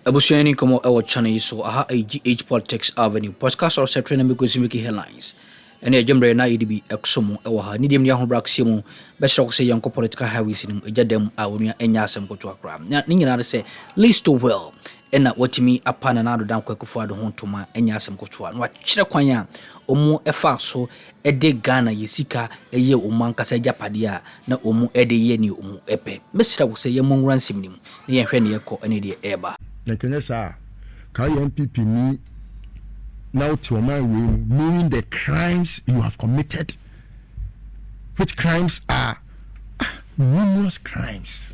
Abusua Ani Nkɔmmɔ wɔ channel yi so. Aha yɛ GH Politics Avenue. Podcast of September me Kosi Miki Headlines. Ɛne ɛgye mmerɛ na yɛde bi ɛkso mu wɔ ha. Ne deɛ mu ne ahobrɛ akeseɛ mu bɛsrɛ ko sɛ yɛnkɔ political highways no mu. Ɛgya dam a onua ɛnyɛ asɛm kotoa koraa. Na ne nyinaa ne sɛ Lee Stowell ɛna watumi apa Nana Addo Dan Kwaku Fadu ho ntoma ɛnyɛ asɛm kotoa. Na wakyerɛ kwan a ɔmu ɛfaa so de Ghana yɛ sika yɛ wɔn ankasa agyapadeɛ a na wɔn de yɛ nea wɔn pɛ. Mɛsrɛ wo sɛ yɛmmɔ nwura nsɛm no mu na yɛnhwɛ nea ɛrekɔ ne deɛ ɛreba. Nka ɛnyɛ saa a, ka yɛ NPP ni na wo te ɔman wei mu knowing the crimes you have committed which crimes are ah numerous crimes.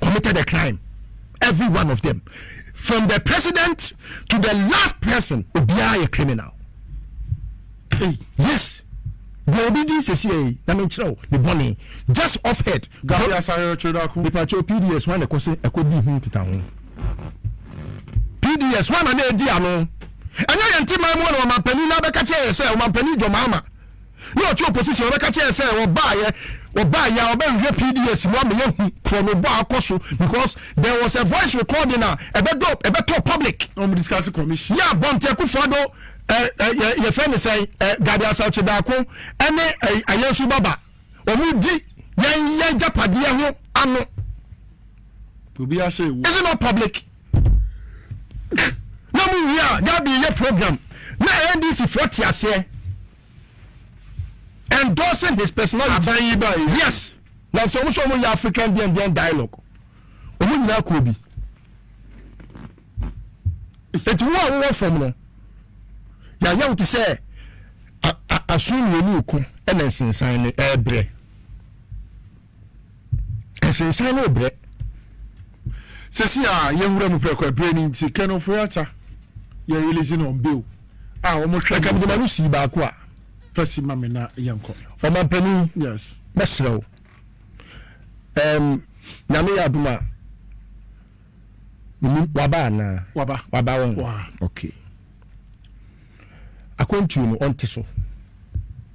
committed a crime every one of them from the president to the last person obiara yɛ criminal hey. yes deɛ obi di sɛsi ɛyi na menkyerɛ wo ne bɔne just off head gabi asare ɔtwerɛdako mepakyɛ pds wane ɛkɔ sɛ ɛkɔ di ho nkita ho pds wana na ɛdi ano ɛnyɛ yɛnte man mu ɔne ɔmampani na bɛka kyerɛ yɛ sɛ ɔmampani dwɔmaama ne ɔte opposition ɔbɛka kyerɛ yɛ sɛ wɔbaayɛ wɔbaayɛ a ɔbɛhwehwɛ PDS mu ama yɛahu korɔno bɔ a akɔ so because there was a voice recording a ɛbɛdɔ ɛbɛtɔ public na wɔn discuss commission yɛ a Bɔnte Akufo-Addo ɛ ɛ yɛ yɛfrɛ ne sɛn ɛ Gade Asawkye Daako ɛne ɛ Ayansu Baba wɔn di yɛn yɛn gyapadeɛ ho ano. Obi ahyɛ ewu. Is it not public? na mo wie a dabi yɛ program na ndc foɔ te aseɛ endorsing his personality aban yi ba yi yes na sɛ wɔn sɛ wɔn yɛ african deɛn deɛn dialogue wɔn nyinaa kɔ bi eti wɔn a wɔwɔ fam no yɛayɛ wɔn te sɛ aso mmienu ko ɛna nsensan ne ɛɛbrɛ. Ɛsensan ne brɛ. Sɛsi a yɛnwura mu prɛko ɛbrɛ ni nti Ken Ofori-Atta yɛ release no on bail a wɔn hwɛ. Ɛka mede ma no sii baako a. Fa si ma me na yɛnkɔ. Ɔmanpanin, yes, mɛsrɛ wo ɛɛm Nyame yɛ adom a menim waba anaa? Waba. Waba wɔn? Waa. Okay. Akwantuo no ɔnte so.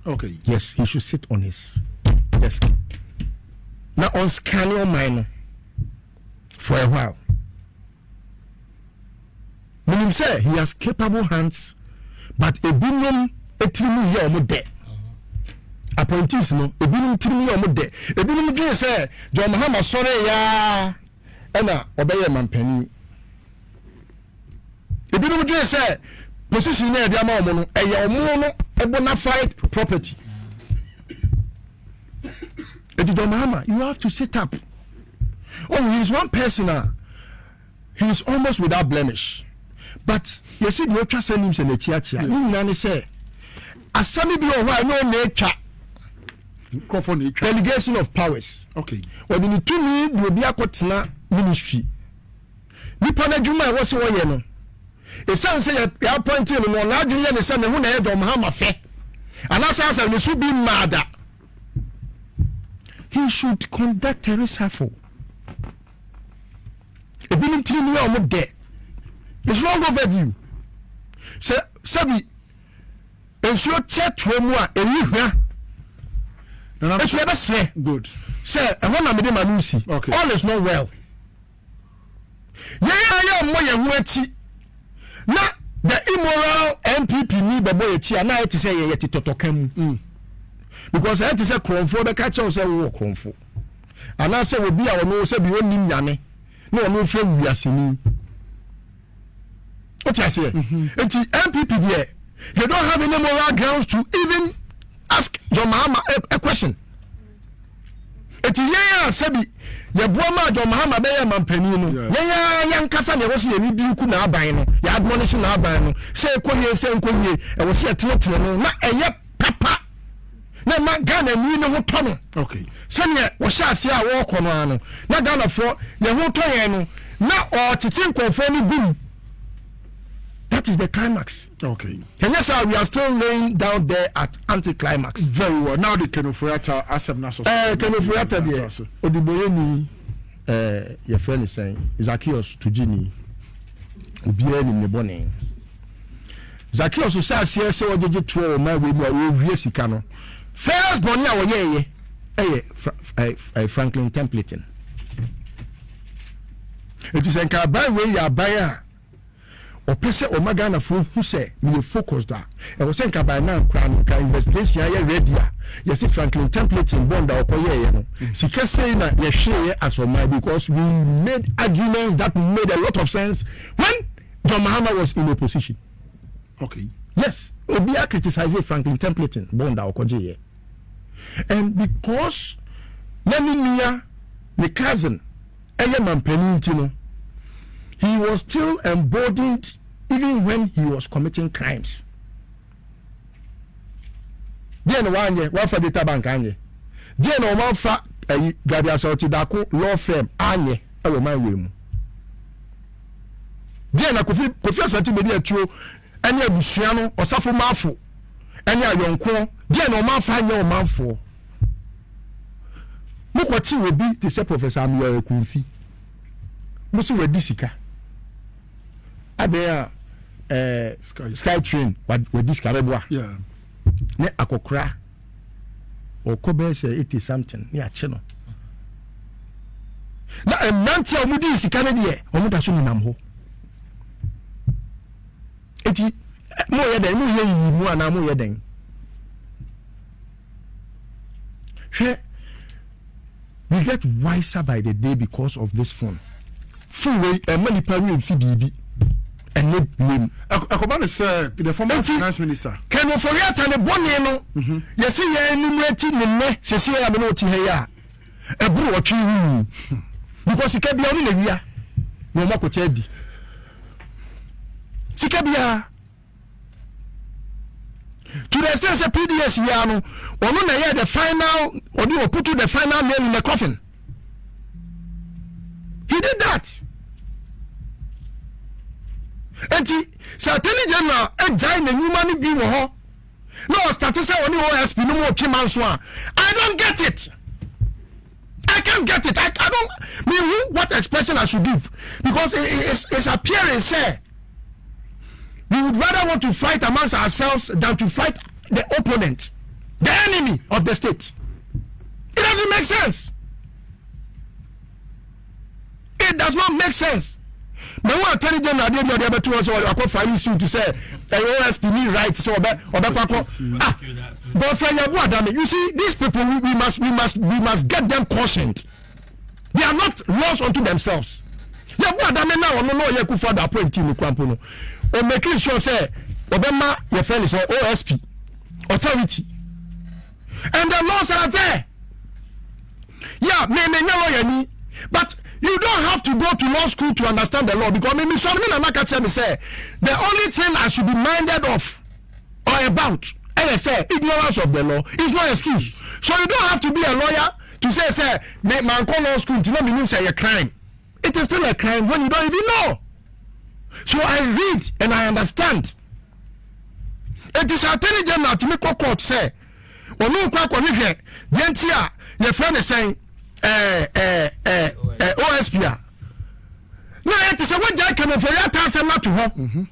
Okay. Yes, he should sit on his desk. Na on scanning on mine no for a while. Meaning say he has capable hands, but a ebinom etirimu yɛ ɔmo dɛ. Appointees no ebinom tirimu yɛ ɔmo dɛ. Ebinom dwen sɛ John Mahama sɔre yaa ɛna ɔbɛyɛ mampanin. Ebinom dwen sɛ position no a yɛde ama wɔn no, ɛyɛ wɔn no bona fide property. Eti John Mahama, you have to sit up. Oh, he is one person a he is almost without blemish. But yɛsi deɛ ɔtwa sɛ nim sɛ n'akyiakyia. Ne nyinaa ne sɛ asɛm bi wɔ hɔ a ɛnyɛ ɔna atwa nkurɔfoɔ na atwa delegation of powers okay wɔde ne tumi de obi akɔtena ministry nipa no adwuma a ɛwɔ sɛ ɔyɛ no. Esiane sɛ yɛapɔintee no no, n'adwene yɛ ne sɛ ne ho na ɛyɛ dɛ, ɔma ha ma fɛ, anaasɛ asɛ ne so bi mmaa da. He should conduct a reshuffle. Ebinom tirinwi a wɔn dɛ. It's long overdue. Sɛ sɛbi nsuo kyɛ toɔ mu a ɛyi hwa ɛti ɛbɛsrɛ sɛ ɛhɔ na mede ma no nsi. All is not well. Yɛn a yɛmmɔ yɛn ho akyi na the immoral NPP ni bɛbɔ yɛn akyi a, na ayɛ te sɛ yɛn yɛte tɔtɔka mu. Mm. Because ayɛ te sɛ korɔmfoɔ bɛka akyerɛ wo sɛ wowɔ korɔmfo. Anaasɛ obi a ɔno sɛ bi ɔnnim Nyame na ɔno mfrɛ wo wiaseni. Wote aseɛ? Mm -hmm. Nti NPP deɛ, they don't have any moral grounds to even ask John Mahama a, a question. Eti yɛn a sɛbi yɛboa maa John Mahama bɛyɛɛ manpanin no, yɛn ara yɛn ankasa na ɛwɔ sɛ yɛredi nku n'aban no, yɛadmɔnehye n'aban no sɛ ɛkɔ yie sɛ ɛnkɔ yie, ɛwɔ sɛ yɛtenetene no na ɛyɛ papa na ɛma Ghanani ne ho tɔ no. Okay. Sɛdeɛ wɔhyɛ aseɛ a wɔrekɔ no ara no, na Ghanafoɔ yɛn ho tɔ yɛn no, na wɔtete nkurɔfoɔ no gu mu. That is the climax. Okay. And yes, sir, we are still laying down there at anticlimax. Very well. Now the Kenoforiata asem na so. Eh, Kenoforiata deɛ odiboyeni eh your friend is saying Zacchaeus Tujini obiara nim ne bɔne. Zacchaeus sɛ aseɛ sɛ ɔgyegye toɔ wɔ ma wei mu a wɔwie sika no first bɔne a wɔyɛɛyɛ ɛyɛ Franklin Templeton. Enti sɛ nka aban wei yɛ aban a ɔpɛ sɛ ɔma Ghanafoɔ hu sɛ meyɛ focused a, ɛwɔ sɛ nka by now koraa no nka investigation ayɛ ready a yɛse Franklin Templeton bond a ɔkɔyɛeɛ no, sika sei na yɛhwereeɛ as ɔman because we made arguments that made a lot of sense when John Mahama was in opposition. Okay. Yes, obiara criticise Franklin Templeton bond a ɔkɔgyeeɛ and because na ne nua, ne cousin, ɛyɛ mampanin nti no he was still emboldened even when he was committing crimes deɛ na wanyɛ wafa data bank anyɛ deɛ na wɔn afa ɛyi gabi asɔrɔti dako law firm anyɛ ɛwɔ man wei mu deɛ na kofi kofi asante bedi atuo. ne abusua no ɔsafomaafo ne ayɔnkoɔ deɛ na wɔamfa anyɛ ɔmanfoɔ. Mokɔte obi te sɛ Professor Ameyaw Akumfi, mo se wadi sika. Adɛn a eh, Sky Train wadi sika bɛboa ne akɔkora ɔkɔ bɛyɛ sɛ eighty something ne akye no na mmeranteɛ a wɔdii sika no deɛ wɔda so nenam hɔ Enti, moreyɛ dɛn? Moreyɛ nyiyimu anaa moreyɛ dɛn? Hwɛ, we get wiser by the day because of this phone. Phone wei ɛma nipa wei nfi biribi ɛne blame. Ɛkɔba ne sɛ the former finance minister. Kɛnɛ Ofori-Atta ne bɔne no, mhm. yɛsi yɛn anim eti ne nnɛ sisi yɛ amene oti ha yi a. ɛboro ɔtwe ho mu because sika bia ɔmo na wia na ɔmo akɔkyɛ adi sika biara to the extent sɛ pds yia no ɔno na ɛyɛ the final ɔde ɔputu the final nail in the coffin he did that nti sɛ attorney general agyae n'anwuma no bi wɔ hɔ na ɔstate sɛ ɔne osp no mu ɔtwe manso a i don't get it i can't get it i, I don't mean who what expression i should give because it, it, it's, it's appearing sɛ we would rather want to fight amongst ourselves than to fight the opponent the enemy of the state it doesn't make sense it does not make sense mɛ wọn attorney general adeɛ bi ɔde abɛto wɔn sɛ wakɔ filing suit sɛ ɛyɛ osp ni right sɛ ɔbɛ ɔbɛkɔ akɔ ah bɔfra yabu adame you see these people we, we must we must we must get them cautioned they are not laws unto themselves yabu adame na ɔno na ɔyɛ kufa do appointee ne kurampo no o making sure sɛ ɔbɛma yɛ fɛn sɛ osp authority. and the laws are there yeah me me nyɛ lawyer ni but you don't have to go to law school to understand the law because me me sɔn me nana ka kyerɛ me sɛ the only thing i should be minded of or about ɛyɛ sɛ ignorance of the law is no excuse so you don't have to be a lawyer to say sɛ me mankɔ law school nti na menim sɛ ɛyɛ crime. It is still a crime when you don't even know. So I read and I understand. It is attorney general to me court say, ɔno nkɔ akɔhwehwɛ deɛ nti a yɛfrɛ ne sɛn ɛɛ ɛɛ ɛɛ osp a na ayɛ te sɛ wagya akamafori ata asɛm no ato hɔ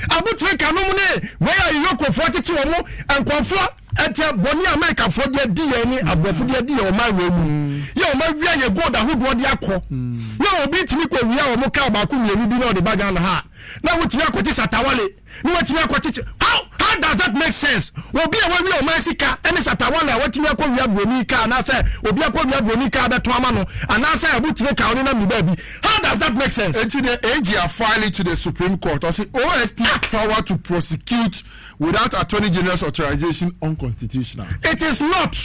abotire kanom ne wei a yɛyɔkofoɔ tete wɔn nkɔmfoɔ Ɛdeɛ bɔne a Amerikafoɔ de adi yɛn ne aborɔfo de adi yɛn ɔman wei mu yɛ wɔn awia yɛ gold ahodoɔ de akɔ na obi tumi kɔ wia wɔn kaa baako mmienu bi na ɔde ba Ghana ha na wotumi akɔte satawale na watumi akɔkyekyɛ how how does that make sense obi a wawia ɔman sika ɛne satawale a watumi akɔ wia buroni kaa anaasɛ obi akɔ wia buroni kaa bɛtɔn ama no anaasɛ abotire kaa ɔne nam ne baabi how does that make sense. Eti deɛ AG afile to the Supreme Court ɔsi OSP's power to prosecute. without Attorney General's authorization unconstitutional. It is not.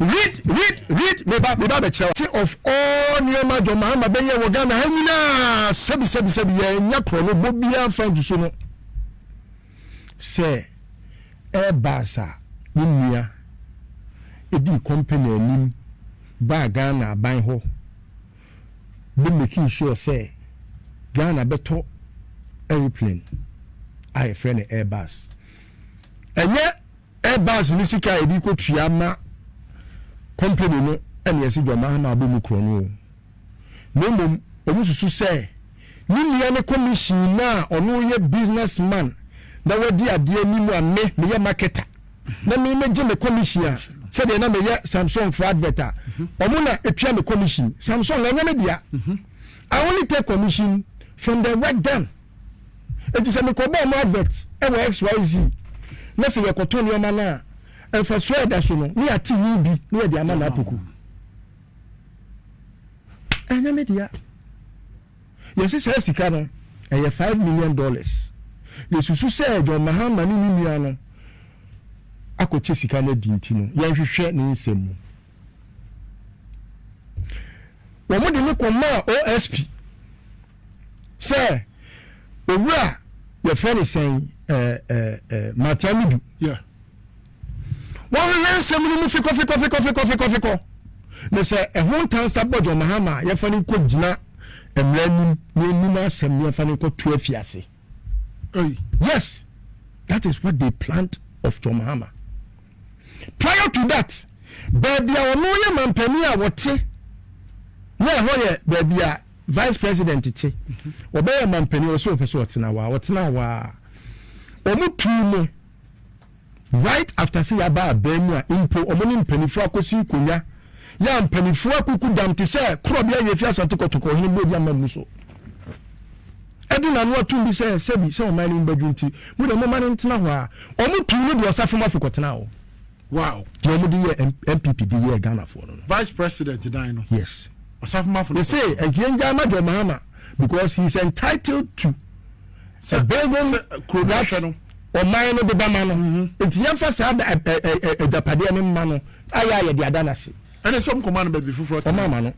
Read, read, read, meba, meba bɛkyerɛ wa. Te of all nneɛma John Mahama bɛyɛ wɔ Ghana ha nyinaa, sɛbi, sɛbi, sɛbi, yɛnnya korɔ no, bɔ biara mfa nsusu no sɛ ɛreba asa. Ne nua dii company anim baa Ghana aban hɔ. bɛ making sure sɛ Ghana bɛtɔ aeroplane a yɛfrɛ no Airbus. Ɛnyɛ Airbus ne sika a yɛde kɔ tua ma company no ɛne yɛse John Mahama abɔ mu korɔ no o. Na mmom wɔn susu sɛ ne nua ne commission no a ɔno yɛ business man na wadi adeɛ anim a me meyɛ marketer. na me me gye me commission a sɛdeɛ na meyɛ samsung for advert a ɔmo na etua me commission samsung ɛnyɛ me dea i only take commission from the work done eti sɛ me kɔ bɔ ɔmo advert ɛwɔ xyz na sɛ yɛ kɔ tɔ nneɛma no a nfasuo a ɛda so no ne yate yi bi ne yɛde ama na apoku ɛnyɛ me dea. Yɛse saa sika no ɛyɛ five million dollars. Yɛsusu sɛ John Mahama ne ne nua no akɔkyɛ sika no adi nti no yɛnhwehwɛ ne nsɛm mu. Wɔn de me kɔmaa OSP sɛ owura yɛfrɛ no sɛn ɛɛ ɛɛ Martiamidu. Yeah. Wɔhwehwɛ nsɛm no mu fekɔfekɔfekɔfekɔfekɔfekɔ, na sɛ ɛho ntansa bɔ John Mahama a, yɛmfa no nkɔgyina mmara anim na yɛnni n'asɛm na yɛmfa no nkɔto afiase. Yes, that is what they planned of John Mahama. Prior to that, baabi a ɔno yɛ mampanin a wɔte na ɛhɔ yɛ baabi a vice president te, ɔbɛyɛ mampanin ɔsɛ ɔpɛ sɛ ɔtena hɔ a, ɔtena hɔ a, wɔn tuu no Right after sɛ yaba aban mu a mpo ɔmo ne mpaninfoɔ akosi nkonya yɛ a mpaninfoɔ akuku dam te sɛ korɔbea yɛ fi Asante Kɔtɔkɔ ɔhene bɔ di ama mmu so ɛde n'ano atum bi sɛ sɛbi sɛ ɔman no mu bɛdwo nti mo deɛ momma no ntena hɔ a ɔmo tuu no de ɔsafo mafo kɔtenaa hɔ. Wow. Deɛ ɔmo de yɛɛ NPP de yɛɛ Ghanafoɔ no no. Vice President dan no. Yes. Ɔsafo mafo no kɔtenaa hɔ. Yɛse ɛnti yɛngyae ma John Mahama because he is entitled to a building that. Sɛ kuro no ahwɛ no. ɔman no de bɛma no. Enti yɛmfa saa da, agyapadeɛ no mma no, a yɛ a yɛde ada no ase. Ɛne sɛ ɔnkɔma no baabi foforɔ tena. Ɔma ama no.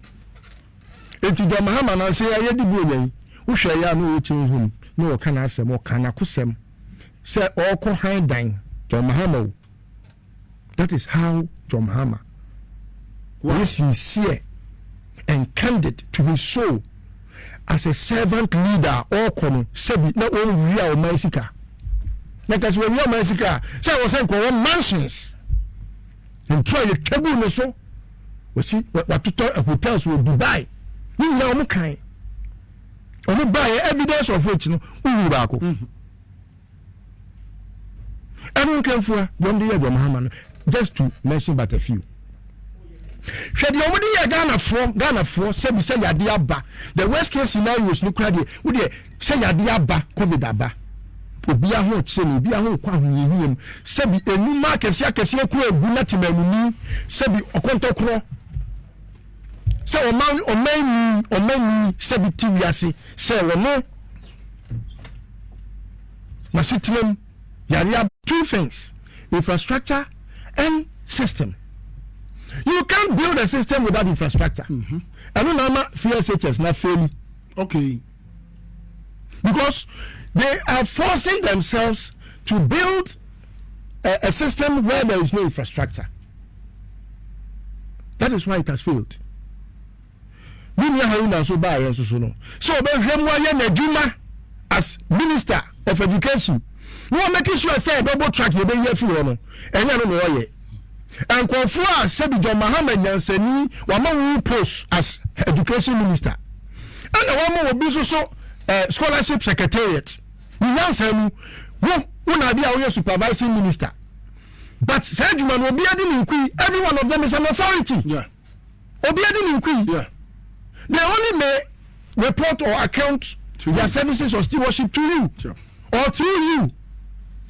Enti John Mahama no, sɛ yɛayɛ de bu ɔnya yi, wohwɛ yɛ a na ɔwɔ kyɛn hunu, na ɔka n'asɛm, ɔkaa n'akosɛm sɛ ɔrekɔ hann dan. John Mahama o. That is how John Mahama was sincere and candid to his soul as a servant leader a ɔrekɔ no sɛbi na ɔnwia ɔman sika na nka sɛ wɔwia ɔman sika a sɛ wɔ sɛ nka wɔwɔ mansions ntu a yɛtwa gu ne so wɔsi watotɔ hotels wɔ Dubai ne nyinaa wɔn kan wɔn baayɛ evidence of which no wohuru baako. Mm -hmm. Ɛno nkanfua deɛ wɔn de yɛ dwam hama no just to mention but a few. Hwɛ deɛ wɔn de yɛ Ghanafoɔ Ghanafoɔ sɛbi sɛ yadeɛ aba the worst case scenarios no kura deɛ wo deɛ sɛ yadeɛ aba covid aba obi ahokyere no obi ahonkɔ ahohiahia mu sɛbi enuma akɛseɛ akɛseɛ kura egu na temanuni sɛbi ɔkɔntɔkorɔ Sɛ ɔman ɔmanni ɔmanni sɛ bi te wiase sɛ wɔ no n'asetenam yare ab. Two things, infrastructure and system. You can't build a system without infrastructure. Ɛno na ama FSHS no afeeli. Okay. because they are forcing themselves to build a, a system where there is no infrastructure. That is why it has failed. Me nua Haruna nso baa yɛn nso so no sɛ ɔbɛhwɛ mu ayɛ n'adwuma as minister of education na wɔn making sure sɛ ɛbɛbɔ track yɛ bɛyi afi hɔ no ɛnyɛ no na ɔyɛ. Nkurɔfoɔ a sɛbi John Mahama nyansani wama wo wo post as education minister ɛna wama obi nso so eh, scholarship secretariat ne nyansa mu wo wo na ade a woyɛ supervising minister but saa adwuma no obi adi ne nkui every one of them is an authority. Yeah. obi adi ne nkui yeah. they only may report or account to their you. services or stewardship to you yeah. or through you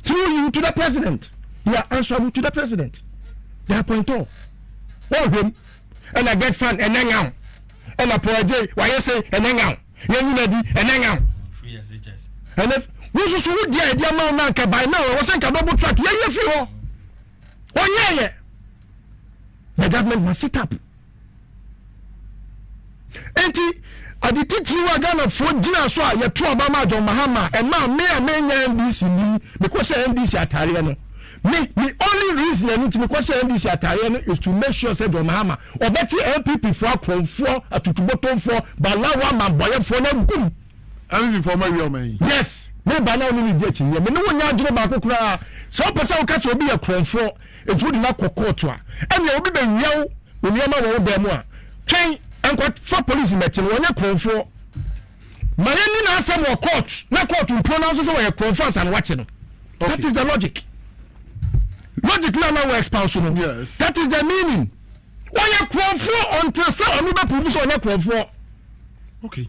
through you to the president they are answerable to the president they are point all oh him and I get fun and hang out and I pour a day why you say and hang out yeah you ready and hang out and if wosusu wo deɛ ɛdeɛ ma wo na nka by now ɛwɔ sɛ nka bɛbo track yɛyɛ firi hɔ ɔnyɛɛyɛ the government must sit up nti ade titiri wa ghanafoɔ gyina so a yɛto aba ma john mahama ɛma me a menya ndc ni mekɔhyɛ ndc atareɛ no me me only reason ɛno nti mekɔhyɛ ndc atareɛ no is to make sure sɛ john mahama ɔbɛte npp foɔ akorɔmfoɔ atutubotomfoɔ balawa mambɔyɛfoɔ no agum npp foɔ ma wie ɔma yi yes meba na wone ne di akyinnɛ me ne wo nyɛ adwene baako koraa sɛ wopɛ sɛ woka sɛ obi yɛ korɔmfoɔ Enti wode no akɔ kɔɔto a, ɛnneɛ obi bɛwia wo nneɛma wɔ wo dan mu a, twɛn. Nkɔfa polisi mmɛte no, wɔnyɛ korɔmfoɔ. Ma yɛnni n'asɛm wɔ kɔɔto, na kɔɔto mpunan nso sɛ wɔyɛ korɔmfoɔ ansa na wɔakye no. Okay. That is the logic. Logic no a na wɔ expouse no, yes. that is the meaning. Wɔyɛ korɔmfoɔ until sɛ ɔno bɛpurubu sɛ ɔnyɛ korɔmfoɔ. Okay.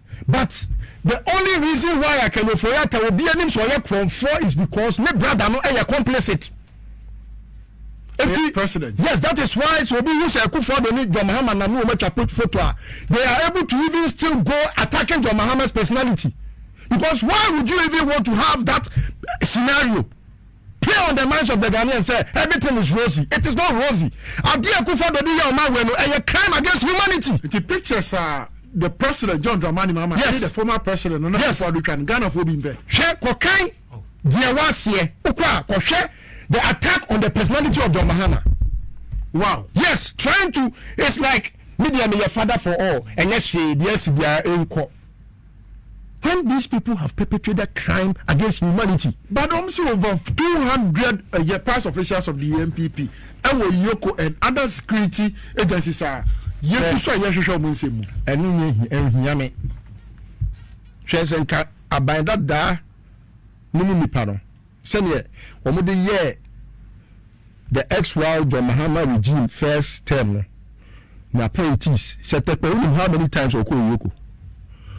But the only reason why I can ofori atta obi anim sɛ ɔyɛ korɔmfoɔ is because ne brother no yɛ complicit nti president yes that is why sɛ obi hu sɛ Akufo Addo ne John Mahama nam ne wɔn atwa photo a they are able to even still go attacking John Mahama's personality because why would you even want to have that scenario. Play on the minds of the Ghanaians sɛ everything is rosy, it is not rosy. Adeɛ a Akuffo Addo de yɛɛ ɔman wei no, ɛyɛ crime against humanity. Nti pictures a the president John Dramani Mahama ɛne the former president Nana Akufo Addo twa no, Ghanafoɔ bi mpɛ. Hwɛ kɔkan deɛ wɔaseɛ. Wokɔ a, kɔhwɛ the attack on the personality of John Mahama. Wow. Yes, trying to, it's like me deɛ meyɛ father for all, ɛnyɛ hwee, deɛ asi biara ɛnkɔ. when these people have perpetrated crime against humanity. Badom se over two hundred yɛ past officials of the NPP wɔ Yoko and other security agencies a yegu so a yɛhwehwɛ wɔn nsɛm mu. Ɛno nyɛ hi, ɛnhia me. Hwɛ sɛ nka aban dadaa no mu nnipa no. sɛdeɛ wɔde yɛɛ the Ex-Wild John Mahama regime first term no, ne appointees. Sɛ Tekpɔ, wonim how many times ɔkɔɔ Yoko?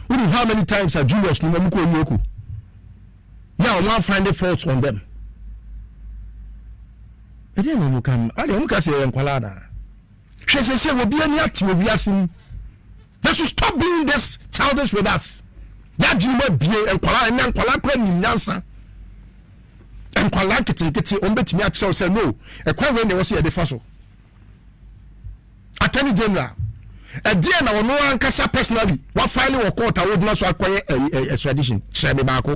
Wonim how many times a juniors no wɔn kɔɔ Yoko? Na wɔn a find faults on them. Ɛdeɛ na wɔn ka no, adeɛ wɔn ka sɛ yɛyɛ nkwalaa anaa? hwɛ sɛsɛ wɔbi ani ate wɔ wiase mu they should stop being this childish with us yɛadwene mu abie nkwala ɛnɛ nkwala kora nim nyansa nkwala nketenkete wɔn bɛtumi akyerɛw sɛ no ɛkwan wei na ɛwɔ sɛ yɛde fa so attorney general ɛdeɛ na ɔno ankasa personally wafaile wɔ court a wɔgyina so akɔyɛ extradition kyerɛ me baako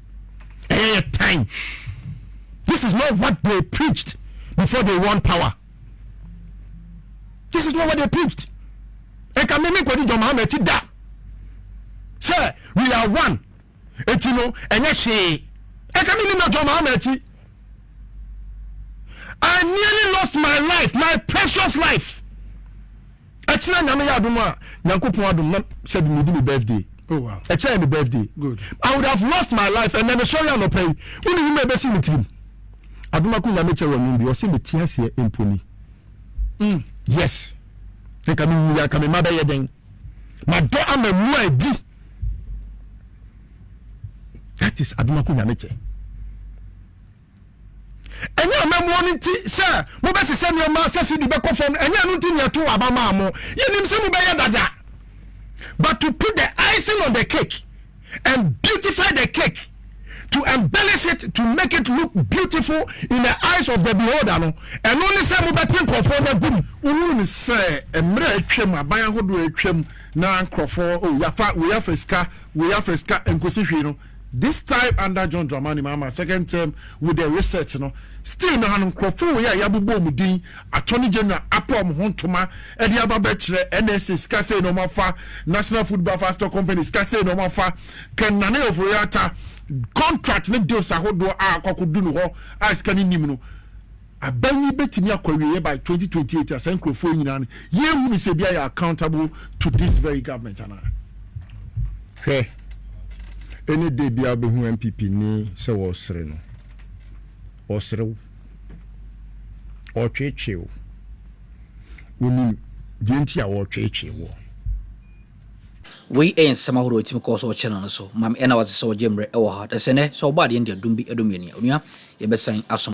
ɛyɛ yɛ tan this is not what they preached before they won power this is not what they preached ɛka mmemme nkɔdi john mahama akyi da sɛ we are one eti no ɛnyɛ hwee ɛka mmemme na john mahama akyi i nearly lost my life my precious life. Ɛkyena nyame yɛ adom a nyankopɔn adom na sɛ de medi me birthday oh, wow. ɛkyena yɛ me birthday Good. I would have lost my life ɛnɛ mesɔre anɔpa yi wone nwuma ɛbɛsi me tirim adoma ko nyame kyɛ w'anum bi ɔse mete aseɛ mponi mm. yes nka mewu yɛ nka mema bɛyɛ dɛn madɔ ama mu a ɛdi that is adoma ko nyame kyɛ Ɛnyɛ amammuo no nti sɛ mobɛsesa nneɛma sɛ CD bɛkɔ fam no, ɛnyɛ ɛno nti na yɛtoo aba maa mo. Yɛnim sɛ mobɛyɛ dada. But to put the icing on the cake and beautify the cake, to embellish it, to make it look beautiful in the eyes of the beholder no, ɛno ne sɛ mobɛte nkurɔfoɔ no agu mu. Wohunu no sɛ mmerɛ a atwam, aban ahodoɔ a atwam na nkurɔfoɔ, oh, yɛafa wei afa sika, wei afa sika, ɛnkɔsi hwee no, This time under John Dramani Mahama second term with the research no still no ano nkorɔfo wei a yabobɔ wɔn din Attorney General apa wɔn ho ntoma de aba bɛkyerɛ NSA sika sei na wɔn afa National Food Buffer Stock Company sika sei na wɔn afa Ken Nana Ofori Atta contract ne deals ahodoɔ a akɔ akɔdu no hɔ a sika no nnim no Aban yi bɛtumi akɔ awieɛ by twenty twenty eight a saa nkurɔfoɔ yi nyinaa no yɛnhunu sɛ biara yɛ accountable to this very government anaa? Hwɛ any day biara wobɛhu NPP ni sɛ wɔresere no. Ɔresere wo. Ɔretweetwee wo. Wonim deɛ nti a ɔretweetwee woɔ. Wei yɛ nsɛm ahorow a ɛtumi kɔ so wɔ channel no so. Mame, ɛna wate sɛ wɔgye mmerɛ wɔ ha. Dasene, sɛ wɔbɔ adeɛ no de adum bi adum yɛn a, onua, yɛbɛsan asom.